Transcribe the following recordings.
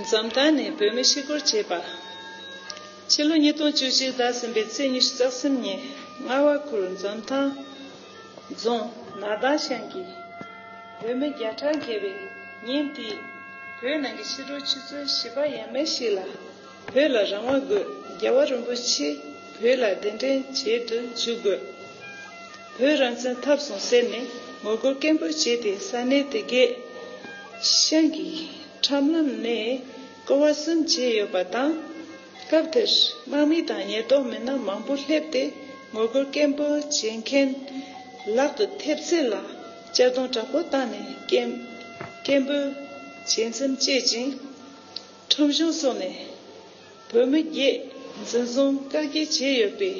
འཛམ་བདག་ནས་བོད་མི་ཤི་སྒོར་བྱས་པ། ཕྱི་ལོ་ཉིས་སྟོང་བཅུ་གཅིག་ཟླ་གསུམ་པའི་ཚེས་ཉི་ཤུ་རྩ་གསུམ་ཉིན་རྔ་བ་ཁུལ་འཛོམས་ཐང་རྫོང་ནགས་ལྡང་ཤང་གི་བོད་མི་བརྒྱ་ཕྲག་བརྒལ་བས་ཉིན་དེའི་བོད་ནང་གི་ཕྱི་དྲོ་ཆུ་ཚོད་བཞི་པ་ཡས་མས་ཤིག་ལ། བོད་ལ་རང་དབང་དགོས་རྒྱལ་བ་རིན་པོ་ཆེ་བོད་ལ་གདན་འདྲེན་བྱེད་དུ་འཇུག་དགོས། བོད་རང་བཙན་ཐབས་བཟུང་ཟེར་ནས་ངོ་རྒོལ་སྐད་འབོད་བྱས་ཏེ་ས་གནས་དེ་གའི་ཤང་གི་ཁྲམ་ལམ་ནས་སྐོར་བ་གསུམ་བྱས་ཡོད་པ་དང། སྐབས་དེར་དམག་མི་དང་ཉེན་རྟོག་མི་སྣ་མང་པོ་སླེབས་ཏེ་ངོ་རྒོལ་སྐད་འབོད་བྱེད་མཁན་ལག་ཏུ་ཐེབས་ཚད་ལ་གཅར་རྡུང་དྲག་པོ་བཏང་ནས་སྐད་འབོད་བྱེད་མཚམས་བཅད་ཅིང། ཁྲོམ་གཞུང་སོགས་ནས་བོད་མི་བརྒྱད་འཛིན་བཟུང་བཀག་སྐྱིལ་བྱས་ཡོད་པའི་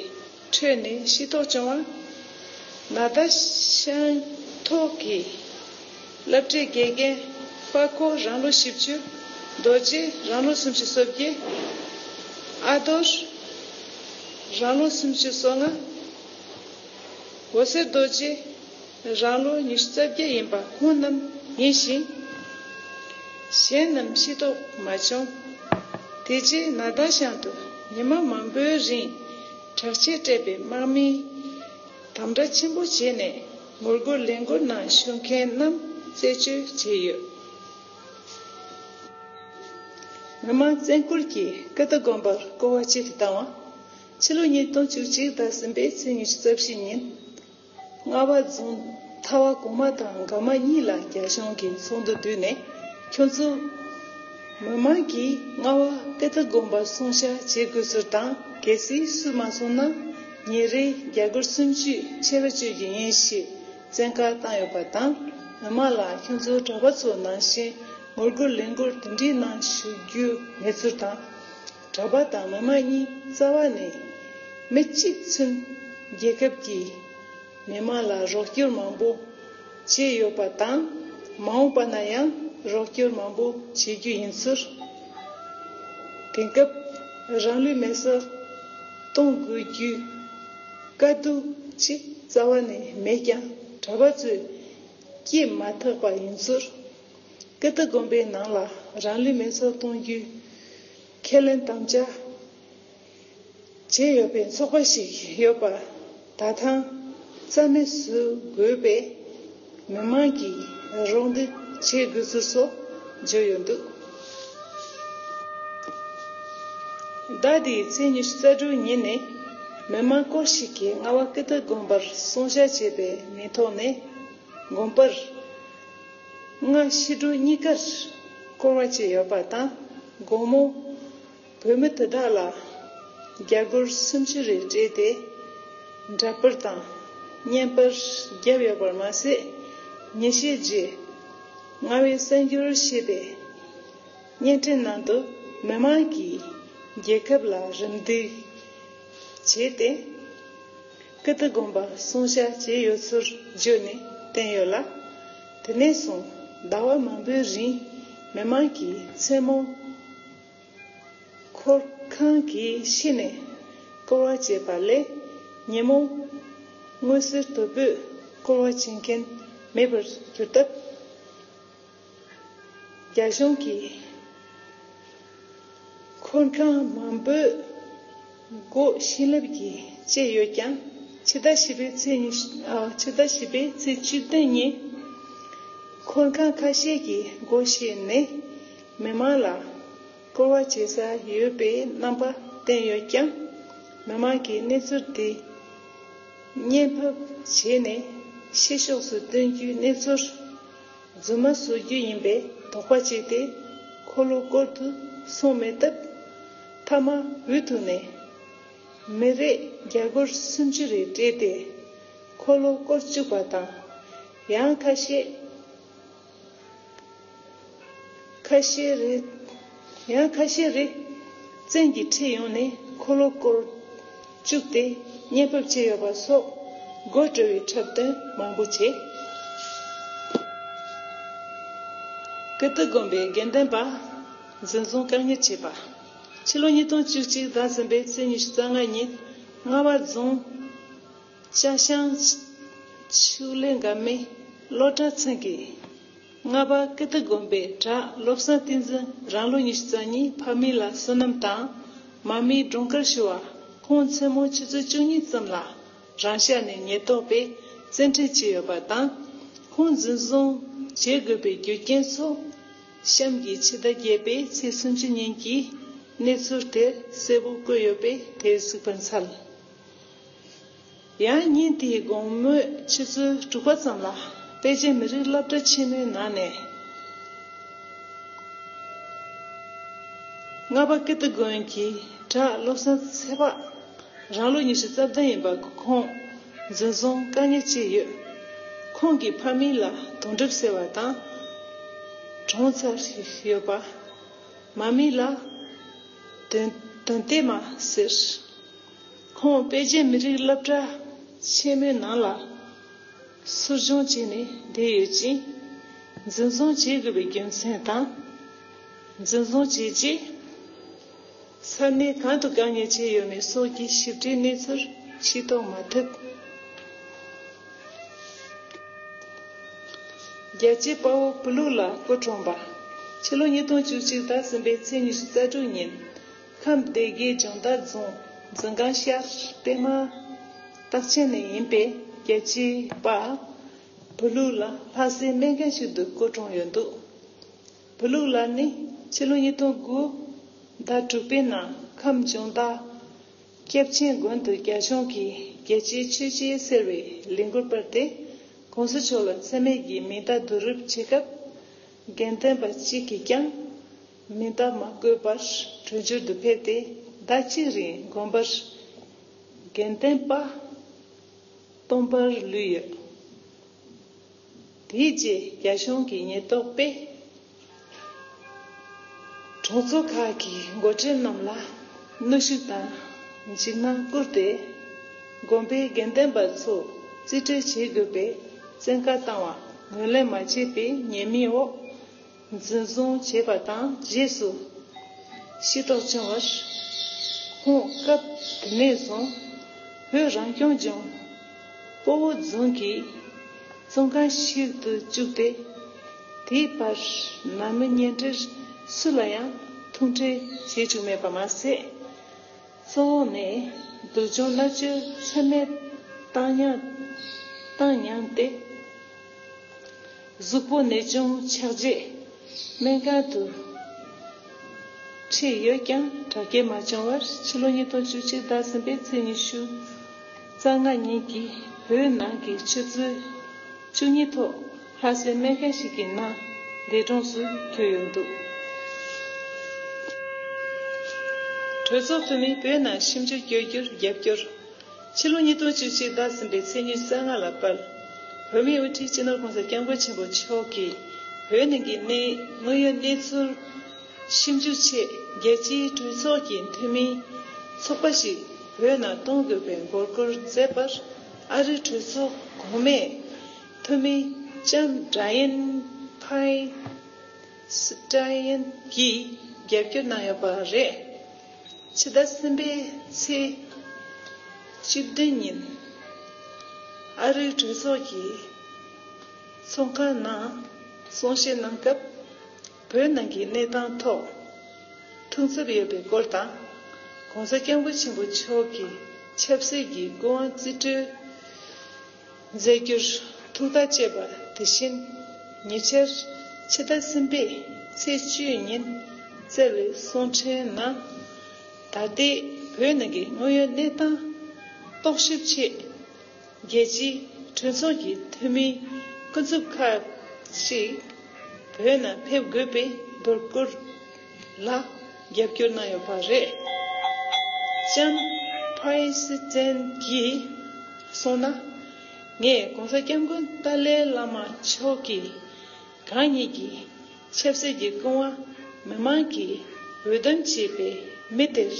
ཁྲོད་ནས་ཤེས་རྟོགས་བྱུང་བར། ན་ད་ཤང་ཐོག་གི་བསླབ་གྲྭའི་དགེ་རྒན་དཔའ་ཁོ་རང་ལོ་བཞི་བཅུ། རྡོ་རྗེ་རང་ལོ་སུམ་ཅུ་སོ་བརྒྱད། ཨ་རྡོར་རང་ལོ་སུམ་ཅུ་སོ་ལྔ། འོད་ཟེར་རྡོ་རྗེ། རང་ལོ་ཉི་ཤུ་རྩ་བརྒྱད་ཡིན་པ་ཁོང་རྣམས་ཡིན་ཞིང། གཞན་རྣམས་ཤི་དོགས་མ་བྱུང། དེ་རྗེས་ནཱ་ད་ཤང་དུ་ཉི་མ་མང་པོའི་རིང་དྲག་ཆས་སྤྲས་པའི་དམག་མིས་དམ་བསྒྲགས་ཆེན་པོ་བྱས་ནས་ངོ་རྒོལ་ལས་འགུལ་ནང་ཞུགས་མཁན་རྣམས་བཙལ་བཅོས་བྱས་ཡོད། མི་དམངས་བཙན་བཀོལ་གྱིས་ཀི་ཏི་དགོན་པར་སྐོར་བ་བྱེད་དུ་བཏང་བ། ཕྱི་ལོ་ཉིས་སྟོང་བཅུ་གཅིག་ཟླ་གསུམ་པའི་ཚེས་ཉི་ཤུ་རྩ་བཞི་ཉིན་རྔ་བ་རྫོང་མཐའ་བ་གོང་མ་དང་འགག་མ་གཉིས་ལ་རྒྱ་གཞུང་གིས་ཚོགས་འདུ་བསྡུས་ནས་ཁྱོད་ཚོ་མི་མང་གིས་རྔ་བ་དཔེ་ལྟ་དགོན་པར་སོང་བཤའ་བྱེད་དགོས་ཟེར་དང་གལ་སྲིད་སུས་མ་སོང་ན་ཉིན་རེའི་རྒྱ་སྒོར་སུམ་བཅུས་ཆད་པ་གཅོད་རྒྱུ་ཡིན་ཞེས་བཙན་བཀའ་བཏང་ཡོད་པ་དང་མི་མང་ལ་ཁྱོད་ཚོ་གྲྭ་པ་ཚོ་ནང་བཞིན་ངོ་རྒོལ་ལས་འགུལ་དེ་འདྲའི་ནང་ཞུགས་རྒྱུ་མེད་ཚུལ་དང། གྲྭ་པ་དང་མི་དམངས་གཉིས་རྩ་བ་ནས་མི་གཅིག་མཚུན། རྒྱལ་ཁབ་ཀྱིས་མི་དམངས་ལ་རོགས་སྐྱོར་མང་པོ་བྱས་ཡོད་པ་དང་མ་འོངས་པ་ན་ཡང་རོགས་སྐྱོར་མང་པོ་བྱེད་རྒྱུ་ཡིན་ཟེར། དེང་སྐབས་རང་ལུས་མེར་སྲེག་གཏོང་དགོས་རྒྱུའི་དཀའ་སྡུག་ཅིག་རྩ་བ་ནས་མེད་ཀྱང་གྲྭ་པ་ཚོས་སྐྱེས་མ་ཐག་པ་ཡིན་ཟེར། སྐད་བརྡ་དགོན་པའི་ནང་ལ་རང་ལུས་མེར་སྲེག་གཏོང་རྒྱུའི་ཁས་ལེན་དམ་བཅའ་བྱས་ཡོད་པའི་ཚོགས་པ་ཞིག་ཡོད་པ་ད་ཐང་རྩ་མེད་བཟོ་དགོས་པས་མི་མང་གིས་རོགས་འདེགས་བྱེད་དགོས་ཚུལ་སོགས་བརྗོད་ཡོད་འདུག་ཟླ་འདིའི་ཚེས་ཉི་ཤུ་རྩ་དྲུག་ཉིན་ནས་མི་མང་སྐོར་ཞིག་གིས་རྔ་བ་སྐད་བརྡ་དགོན་པར་སྲུང་བྱ་བྱས་པའི་མིང་ཐོག་ནས་དགོན་པར་སྔ་ཕྱི་དྲོ་གཉིས་ཀར་སྐོར་བ་བྱས་ཡོད་པ་དང་དགོང་མོ། བོད་མི་དེ་དག་ལ་རྒྱ་སྒོར་སུམ་ཅུ་རེ་སྤྲད་དེ་འདྲ་པར་དང་བརྙན་དཔར་བརྒྱབ་ཡོད་པར་མ་ཟད། ཉིན་ཤས་རྗེས། རྔ་བའི་གསར་འགྱུར་ཞེས་པའི་བརྙན་འཕྲིན་ནང་དུ་མི་མང་གིས་རྒྱལ་ཁབ་ལ་རིམ་འདེགས་བྱས་ཏེ། ཀི་ཏི་དགོན་པ་བསྲུང་བྱ་བྱས་ཡོད་ཚུལ་བརྗོད་ནས་བསྟན་ཡོད་ལ། དེ་ནས་བཟུང་ཟླ་བ་མང་པོའི་རིང་མི་མང་གིས་མཚན་མོ་འཁོར་ཁང་གི་ཕྱི་ནས་སྐོར་བ་བྱེད་པ་ལས་ཉིན་མོ་སྔོན་གསེར་དོད་པོས་སྐོར་བ་བྱེད་མཁན་མེད་པར་གྱུར་སྟབས། རྒྱ་གཞུང་གིས་འཁོར་ཁང་མང་པོའི་སྒོ་བྱིན་རླབས་ཀྱིས་བཅད་ཡོད་ཀྱང་ཕྱི་ཟླ་བཞི་པའི་ཚེས་བཅུ་བདུན་ཉིན་འཁོར་ཁང་ཁ་ཤས་ཀྱི་སྒོ་ཕྱེས་ནས་མི་མང་ལ་སྐོར་བ་བྱེད་ས་ཡོད་པའི་རྣམ་པ་བསྟན་ཡོད་ཀྱང་མི་མང་གིས་གནས་ཚུལ་དེ་བརྙན་ཕབ་བྱས་ནས་ཕྱི་ཕྱོགས་སུ་སྟོན་རྒྱུའི་གནས་ཚུལ། རྫུན་མ་བཟོ་རྒྱུ་ཡིན་པའི་དོགས་པ་བྱས་ཏེ་འཁོར་ལོ་བསྐོར་དུ་སོང་མེད་སྟབས། མཐའ་མ་འུ་ཐུག་ནས། མི་རེས་རྒྱ་སྒོར་སུམ་ཅུ་རེ་སྤྲད་དེ་འཁོར་ལོ་བསྐོར་བཅུག་པ་དང། ཡང་ཁ་ཤས། ཁ་ཤས་རེ། ཡང་ཁ་ཤས་རེས་བཙན་གྱིས་ཁྲིད་ཡོང་ནས་འཁོར་ལོ་བསྐོར། བཅུག་སྟེ་གཉེན་ཕབ་བྱས་ཡོད་པ་སོགས་དགོད་བྲོ་བའི་འཁྲབ་སྟོན་མང་པོ་བྱས། ཀིརྟི་དགོན་པའི་དགེ་ལྡན་པ་འཛིན་བཟུང་བཀག་ཉར་བྱས་པ། ཕྱི་ལོ་ཉིས་སྟོང་བཅུ་གཅིག་ཟླ་གསུམ་པའི་ཚེས་ཉི་ཤུ་རྩ་ལྔ་ཉིན་རྔ་བ་རྫོང་ལྕགས་ཤང་ཆུ་ལེ་འགབ་མའི་སློབ་གྲྭ་ཚང་གི་ལྔ་པ། ཀི་ཏི་དགོན་པའི་གྲྭ་སློབ་གསང་བསྟི་འཛིན་རང་ལོ་ཉི་ཤུ་རྩ་གཉིས་ཕ་མི་ལ་བསོད་ནམས་དང། མ་མི་སྒྲུང་དཀར་ཞུ་བ་ཁོང་མཚན་མོ་ཆུ་ཚོད་བཅུ་གཉིས་ཙམ་ལ་རང་ཤག་ནས་ཉེན་རྟོག་པས་བཙན་ཁྲིད་བྱས་ཡོད་པ་དང། ཁོང་འཛིན་བཟུང་བྱེད་དགོས་པའི་རྒྱུ་རྐྱེན་སོགས། གཤམ་གྱི་ཕྱི་ཟླ་བརྒྱད་པའི་ཚེས་སུམ་ཅུ་ཉིན་གྱི་གནས་ཚུལ་དེར་གསལ་པོ་བཀོད་ཡོད་པས་དེར་གཟིགས་པར་འཚལ། ཡང་སྙིང་དེའི་དགོངས་མོས་ཕྱི་ཚུལ་དྲུག་པ་ཙམ་ལ་དཔལ་ཆེན་མི་རིགས་རླབས་སྒྲ་ཆེན་མོའི་ནང་ནས། རྔ་པ་ཀིརྟི་དགོན་གྱི་གྲྭ་སློབ་གསན་ཚེ་དཔག་རང་ལོ་ཉི་ཤུ་རྩ་བདུན་ཡིན་པ་ཁོང་འཛིན་བཟུང་བཀག་ཉར་བྱས་ཡོད། ཁོང་གི་ཕ་མིང་ལ་དོང་གྲིབ་ཟེར་བ་དང། གྲོང་ཚར་ཡོད་པ། མ་མིང་ལ། དོན་བདེ་མ་ཟེར། ཁོང་དཔལ་རྒྱལ་མི་རིགས་སློབ་གྲྭ་ཆེན་མོའི་ནང་ལ་གསོ་སྦྱོང་བྱས་ནས་བསྡད་ཡོད་ཅིང། འཛིན་བཟུང་བྱེད་དགོས་པའི་རྒྱུ་མཚན་དང། འཛིན་བཟུང་བྱས་རྗེས་ས་གནས་གང་དུ་དགའ་ཉེ་བྱས་ཡོད་མེད་སོགས་ཀྱི་ཞིབ་ཕྲའི་གནས་ཚུལ་ཤེས་རྟོགས་མ་ཐུབ། རྒྱལ་གཅེས་དཔའ་བོ་བུ་ལུགས་ལ་སྐུ་གྲོངས་པ། ཕྱི་ལོ་ཉིས་སྟོང་བཅུ་གཅིག་ཟླ་གསུམ་པའི་ཚེས་ཉི་ཤུ་རྩ་དྲུག་ཉིན། ཁམས་སྡེ་དགེའི་སྦྱོང་བརྡར་རྫོང་འཛིན་སྒང་ཤར་པད་མ་སྟག་ཆེན་ནས་ཡིན་པའི་རྒྱལ་གཅེས་པ་བུ་ལུག་ལ་ལྷ་སའི་སྨན་མཁན་ཞིག་ཏུ་བསྐོ་གྲོངས་ཡོད་འདུག་བུ་ལུག་ལ་ནི་ཕྱི་ལོ་ཉིས་སྟོང་དགུ་ཟླ་དྲུག་པའི་ནང་ཁམས་སྦྱོང་བརྡར་སྐྱབས་ཆེན་དགོན་དུ་རྒྱ་གཞུང་གིས་རྒྱལ་གཅེས་ཆོས་གཅེས་ཟེར་བའི་ལས་འགུལ་སྤེལ་ཏེ་གོང་ས་མཆོག་ལ་འཚེ་མེད་ཀྱི་མིང་བརྡ་བསྡུ་རུབ་བྱེད་སྐབས་དགེ་འདུན་པ་གཅིག་གིས་ཀྱང། མི་བདག་མ་བསྐོས་པར་གྲོལ་འགྱུར་དུ་ཕེབས་ཏེ་ཟླ་གཅིག་རིང་དགོན་པར་དགེ་ལྡན་པ་སྟོང་པར་ལུས་ཡོད། དེའི་རྗེས་རྒྱ་གཞུང་གི་ཉེས་རྟོག་པས་གྲོང་ཚོ་ཁག་གི་མགོ་ཁྲིད་རྣམས་ལ་གནོད་ཤུགས་དང་འཇིགས་སྣང་བསྐུར་ཏེ་དགོན་པའི་དགེ་ལྡན་པ་ཚོ་རྩིས་སྤྲོད་བྱེད་དགོས་པའི་བཙན་བཀའ་བཏང་བ་ངོས་ལེན་མ་བྱས་པའི་ཉེས་མིང་འོག་འཛིན་བཟུང་བྱས་པ་དང་རྗེས་སུ་ཤི་དོགས་བྱུང་བར། ཁོང་སྐབས་དེ་ནས་བཟུང་བོད་རང་སྐྱོང་ལྗོངས་སྤོ་བོ་རྫོང་གི་ཙོང་ཁང་ཞིག་ཏུ་བཅུག་སྟེ། དེའི་བར་ན་མི་གཉེན་སྒྲིག་སུ་ལ་ཡང་ཐུག་འཕྲད་བྱེད་བཅུག་མེད་པ་མ་ཟད། གཙོ་བོ་ནི། སྡུག་སྦྱོང་སླ་བཅོས་མཚོན་མེད་བཏང་སྙམ་སྟེ། གཟུགས་པོ་ནད་བྱུང་ཆགས་རྗེས་སྨན་ཁང་དུ་ཁྲིད་ཡོད་ཀྱང་དྲག་སྐྱེད་མ་བྱུང་བར་ཕྱི་ལོ་ཉིས་སྟོང་བཅུ་གཅིག་ཟླ་གསུམ་པའི་ཚེས་ཉི་ཤུ་རྩ་ལྔ་ཉིན་གྱི་བོད་ནང་གི་ཆུ་ཚོད་བཅུ་གཉིས་ཐོག་ལྷ་སའི་སྨན་ཁང་ཞིག་གི་ནང་འདས་གྲོངས་སུ་གྱུར་ཡོད་འདུག། གྲོས་ཚོགས་འཐུས་མིས་བོད་ནང་ཞིབ་འཇུག་བསྐྱོད་རྒྱུར་རྒྱབ་སྐྱོར། ཕྱི་ལོ་ཉིས་སྟོང་བཅུ་གཅིག་བདག་ཟིན་པའི་ཚེས་ཉེར་གསལ་ལྔ་ལ་དཔལ་བོད་མིའི་དབུ་ཁྲིད་སྤྱི་ནོར ྋགོང་ས ྋསྐྱབས་མགོན་ཆེན་པོ་མཆོག་གིས་བོད་ནང་གི་གནས་དངོས་ཡོད་གནས་ཚུལ་ཞིབ་འཇུག་ཆེད་རྒྱལ་སྤྱིའི་གྲོས་ཚོགས་ཀྱི་འཐུས་མིའི་ཚོགས་པ་ཞིག་བོད་ནང་གཏོང་དགོས་པའི་འབོད་སྐུལ་མཛད་པར་ཨ་རིའི་གྲོས་ཚོགས་གོང་མས། ཐུ་མི་ཅཱན་ཀྲ་ཡན་ཕའེ། Sitaian། གྱིས་རྒྱབ་སྐྱོར་གནང་ཡོད་པ་རེད། ཕྱི་ཟླ་གསུམ་པའི་ཚེས་བཅུ་བདུན་ཉིན། ཨ་རིའི་གྲོས་ཚོགས་ཀྱི་ཚོགས་ཁང་ནང་གསུང་བཤད་གནང་སྐབས། བོད་ནང་གི་གནས་སྟངས་ཐོག་ཐུགས་འཚབ་ཡོད་པའི་སྐོར་དང། ྋགོང་ས ྋསྐྱབས་མགོན་ཆེན་པོ་མཆོག་གི་ཆབ་སྲིད་ཀྱི་སྐུ་དབང་རྩིས་སྤྲོད། མཛད་རྒྱུར་ཐུགས་བརྟག་བཅས་པ་དེ་བཞིན་ཉེ་ཆར་ཕྱི་ཟླ་གསུམ་པའི་ཚེས་བཅུའི་ཉིན་བསྩལ་བའི་གསུང་འཕྲིན་ནང། ད་ལྟའི་བོད་ནང་གི་དངོས་ཡོད་གནས་སྟངས་རྟོག་ཞིབ་ཆེད། རྒྱལ་སྤྱིའི་གྲོས་ཚོགས་ཀྱི་འཐུས་མིའི་ཀུན་རྫོབ་ཁག་ཅིག་བོད་ནང་ཕེབས་དགོས་པའི་འབོད་སྐུལ། ལ་རྒྱབ་སྐྱོར་གནང་ཡོད་པ་རེད། ལྕམ President གྱིས་སོང་ན། ངས ྋགོང་ས ྋསྐྱབས་མགོན་ཏཱ་ལའི་བླ་མ་མཆོག་གི་གང་ཉིད་ཀྱི་ཆབ་སྲིད་ཀྱི་སྐུ་དབང་མི་མང་གིས་འོས་འདེམས་བྱས་པའི་མི་དེར།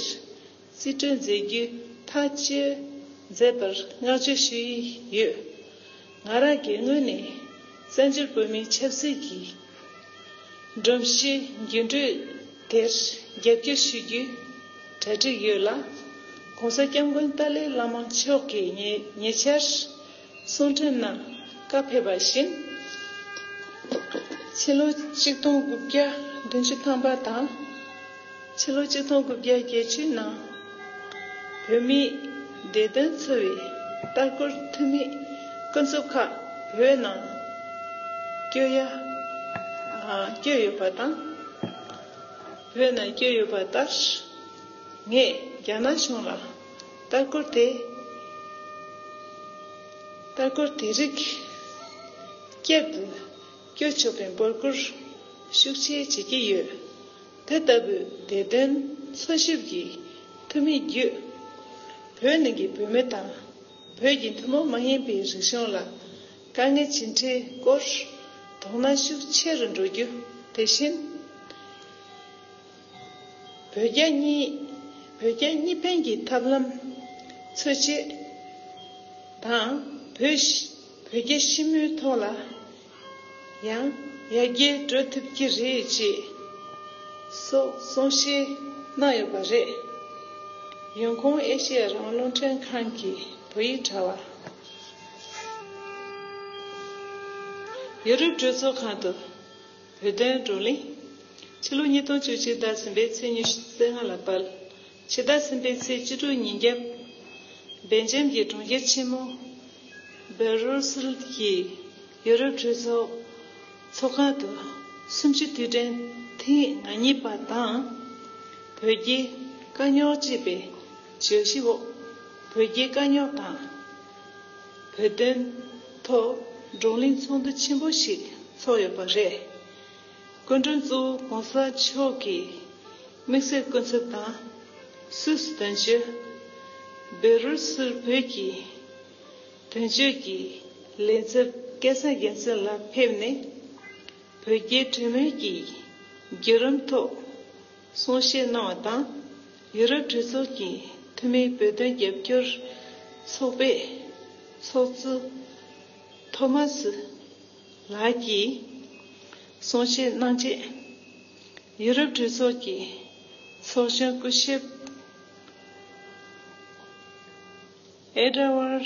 རྩིས་སྤྲོད་མཛད་རྒྱུ་མཐའ་སྤྱིར་མཛད་པར་བསྔགས་བརྗོད་ཞུ་ཡི་ཡོད། ང་རང་སྒེར་ངོས་ནས་བཙན་བྱོལ་བོད་མིའི་ཆབ་སྲིད་ཀྱི་སྒྲོམ་གཞི་འགྱུར་འགྲོས་དེར་རྒྱབ་སྐྱོར་ཞུ་རྒྱུའི་གྲ་སྒྲིག་ཡོད་ལ། ྋགོང་ས ྋསྐྱབས་མགོན་ཏཱ་ལའི་བླ་མ་མཆོག་གིས་ཉེ་ཆར། གསུང་འཕྲིན་གནང་བཀའ་ཕེབས་པ་བཞིན། ཕྱི་ལོ་གཅིག་སྟོང་དགུ་བརྒྱ་བདུན་ཅུ་ཐམ་པ་དང་ཕྱི་ལོ་གཅིག་སྟོང་དགུ་བརྒྱ་བརྒྱད་བཅུའི་ནང། བོད་མིའི་བདེ་དོན་འཚོ་བའི་ལྟ་སྐོར་འཐུས་མི་ཀུན་རྫོབ་ཁག་བོད་ནང་བསྐྱོད་ཡ་བསྐྱོད་ཡོད་པ་དང། བོད་ནང་བསྐྱོད་ཡོད་པ་ལྟར། ངས་རྒྱ་ནག་གཞུང་ལ། ལྟ་སྐོར་དེ་ལྟ་སྐོར་དེ་རིགས་བསྐྱར་དུ་སྐྱོད་ཆོག་པའི་འབོད་སྐུལ་ཤུགས་ཆེ་བྱེད་ཀྱི་ཡོད། དེ་ལྟ་བུའི་དེ་དོན་འཚོལ་ཞིབ་ཀྱི་འཐུས་མི་བརྒྱུད། བོད་ནང་གི་བོད་མི་དང་བོད་ཀྱི་ཐུན་མོང་མ་ཡིན་པའི་རིག་གཞུང་ལ་དཀའ་ངལ་ཇི་འཕྲད་སྐོར་དོགས་སྣང་ཤུགས་ཆེ་རུ་འགྲོ་རྒྱུ་དེ་བཞིན། བོད་རྒྱ་གཉིས། བོད་རྒྱ་གཉིས་ཕན་གྱི་ཐབས་ལམ། འཚོལ་བྱེད། དང། བོད། བོད་རྒྱ་ཞི་མོལ་ཐོག་ལ། ཡང། ཡར་རྒྱས་འགྲོ་ཐུབ་ཀྱི་རེད་ཅེས། སོགས་གསུང་བཤད་གནང་ཡོད་པ་རེད། ཡོན་ཀོང་ཨེ་ཤེ་ཡ་རང་བློ་འདྲེན་ཁང་གི་བོད་ཡིག་དྲ་བ། ཡོ་རུབ་གྲོས་ཚོགས་ཁང་དུ། བོད་དོན་བགྲོ་གླེང། ཕྱི་ལོ་ཉིས་སྟོང་བཅུ་གཅིག་ཟླ་གསུམ་པའི་ཚེས་ཉི་ཤུ་ཟེར་ལྔ་ལ་དཔལ། ཕྱི་ཟླ་གསུམ་པའི་ཚེས་བཅུ་དྲུག་ཉིན་རྒྱབ། སྦེལ་ཇམ་གྱི་གྲོང་ཁྱེར་ཆེན་མོ། Brussels། གྱི་ཡུ་རོབ་གྲོས་ཚོགས་ཚོགས་ཁང་དུ། གསུམ་བཅུ་དུས་དྲན་ཐེངས་ང་གཉིས་པ་དང། བོད་རྒྱའི་དཀའ་རྙོག་ཅེས་པའི་བརྗོད་གཞི་འོག་བོད་རྒྱའི་དཀའ་རྙོག་དང། བོད་དོན་ཐོག་བགྲོ་གླེང་ཚོགས་འདུ་ཆེན་པོ་ཞིག་ཚོགས་ཡོད་པ་རེད། སྐུ་མགྲོན་གཙོ་བོ་གོང་ས་མཆོག་གིས་དམིགས་བསལ་སྐུ་ཚབ་དང་སུད་དོན་གཅོད། བེ་རུ་སུར་བོད་ཀྱི་དོན་གཅོད་ཀྱི་ལས་འཚབ་སྐལ་བཟང་རྒྱལ་མཚན་ལགས་ཕེབས་ནས་བོད་རྒྱའི་གྲོས་མོལ་གྱི་བརྒྱུད་རིམ་ཐོག་གསུང་བཤད་གནང་བ་དང། ཡུ་རོབ་གྲོས་ཚོགས་ཀྱི་འཐུས་མིའི་བོད་དོན་རྒྱབ་སྐྱོར་ཚོགས་པའི་ཚོགས་གཙོ་ཐོ་མ་སུ་ལགས་ཀྱིས་གསུང་བཤད་གནང་རྗེས། ཡུ་རོབ་གྲོས་ཚོགས་ཀྱི་ཚོགས་གཞོན་སྐུ་ཞབས་ཨེ་ར་ཝར་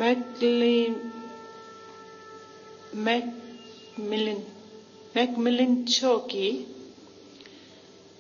མེག་ལི་མེག་མི་ལིན Macmillan མཆོག་གིས།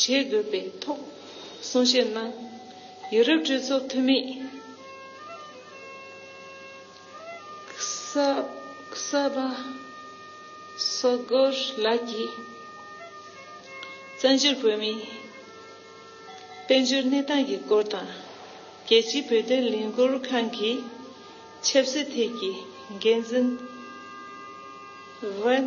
བྱེད་དགོས་པའི་ཐོག་གསུང་བཤད་གནང། ཡུ་རོབ་གྲོས་ཚོགས་འཐུས་མི Csaba Sogor ལགས་ཀྱིས་བཙན་བྱོལ་བོད་མིའི་དཔལ་འབྱོར་གནས་སྟངས་ཀྱི་སྐོར་དང། རྒྱལ་སྤྱིའི་བོད་དོན་ལས་འགུལ་ཁང་གི་ཆབ་སྲིད་ཐད་ཀྱི་འགན་འཛིན Vin།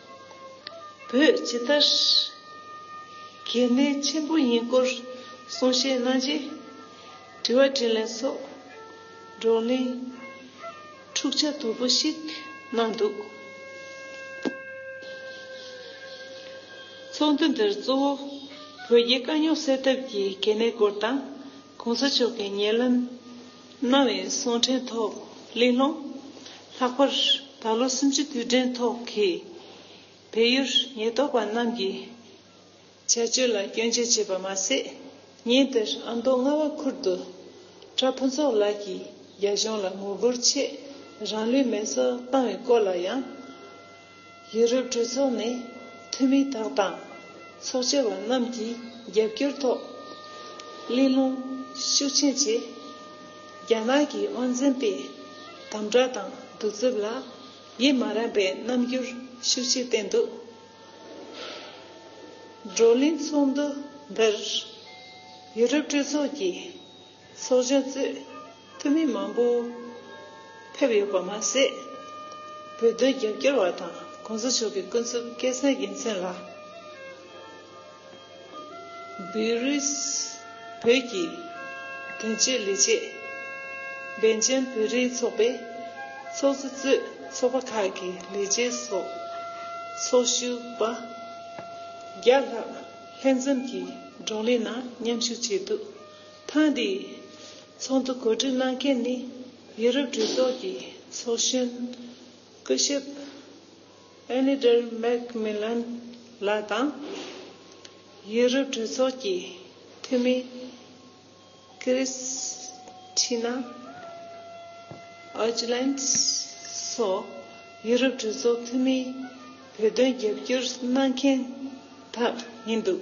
བོད་ཇི་ལྟར་གལ་གནད་ཆེན་པོ་ཡིན་སྐོར་གསུང་བཤད་གནང་རྗེས། དྲི་བ་དྲིས་ལན་སོགས་བགྲོ་གླེང་འཁྲུག་ཆ་དོད་པོ་ཞིག་གནང་འདུག་ཚོགས་འདུ་འདིར་གཙོ་བོ་བོད་རྒྱའི་དཀའ་རྙོག་སེལ་ཐབས་ཀྱི་གལ་གནད་སྐོར་དང། གོང་ས་མཆོག་གི་ཉེ་ལམ་གནང་བའི་གསུང་འཕྲིན་ཐོག་གླེང་སློང། ལྷག་པར་ད་ལོ་སུམ་ཅུ་དུས་དྲན་ཐོག་གི་བལ་ཡུལ་ཉེན་རྟོག་པ་རྣམས་ཀྱི་བྱ་སྤྱོད་ལ་སྐྱོན་བརྗོད་བྱས་པ་མ་ཟད། ཉིན་དེར་ཨ་མདོ་རྔ་བ་ཁུལ་དུ་གྲྭ་ཕུན་ཚོགས་ལགས་ཀྱིས་རྒྱ་གཞུང་ལ་ངོ་རྒོལ་ཆེད་རང་ལུས་མེ་སྲེག་བཏང་བའི་སྐོར་ལ་ཡང། ཡུ་རོབ་གྲོས་ཚོགས་ནས་འཐུས་མི་དག་དང་ཚོགས་བཅར་བ་རྣམས་ཀྱི་རྒྱབ་སྐྱོར་ཐོག་གླེང་སློང་ཤུགས་ཆེན་བྱས། རྒྱ་ནག་གི་དབང་འཛིན་པས་དམ་དྲག་དང་གདུག་རྩུབ་ལ་ཡིད་མ་རངས་པའི་རྣམ་འགྱུར་ཤུགས་ཆེ་བསྟན་འདུག་བགྲོ་གླེང་ཚོགས་འདུ་འདིར་ཡུ་རོབ་གྲོས་ཚོགས་ཀྱི། ཚོགས་གཞོན་གཙོས་འཐུས་མི་མང་པོ་ཕེབས་ཡོད་པ་མ་ཟད། བོད་དོན་རྒྱབ་སྐྱོར་བ་དང་གོང་ས་མཆོག་གི་ཀུན་རྫོབ་སྐལ་བཟང་དགེ་མཚན་ལ་འབུལ་རེས་བོད་ཀྱི་དོན་གཅོད་ལས་བྱེད་བན་ཆེན་བོད་རིགས་ཚོགས་པའི་ཚོགས་གཙོ་གཙོས་ཚོགས་པ་ཁག་གི་ལས་བྱེད་སོགས་ཚོགས་ཞུགས་པ་བརྒྱ་ལྷག་ལྷན་འཛོམས་ཀྱིས་བགྲོ་གླེང་ནང་མཉམ་ཞུགས་བྱས་འདུག། ཐེངས་འདིའི་ཚོགས་འདུ་གོ་སྒྲིག་གནང་མཁན་ནི་ཡུ་རོབ་གྲོས་ཚོགས་ཀྱི་ཚོགས་གཞོན་སྐུ་ཞབས་ཨེ་ནི་ཏར་མེག་མི་ལོན་ལགས་དང། ཡུ་རོབ་གྲོས་ཚོགས་ཀྱི་འཐུས་མི་ཀི་རིས་ཁྲི་ན་ཨོ་ཇི་ལན་སོགས་ཡུ་རོབ་གྲོས་ཚོགས་འཐུས་མིས་བོད་དོན་རྒྱབ་སྐྱོར་གནང་མཁན་དག་ཡིན་འདུག།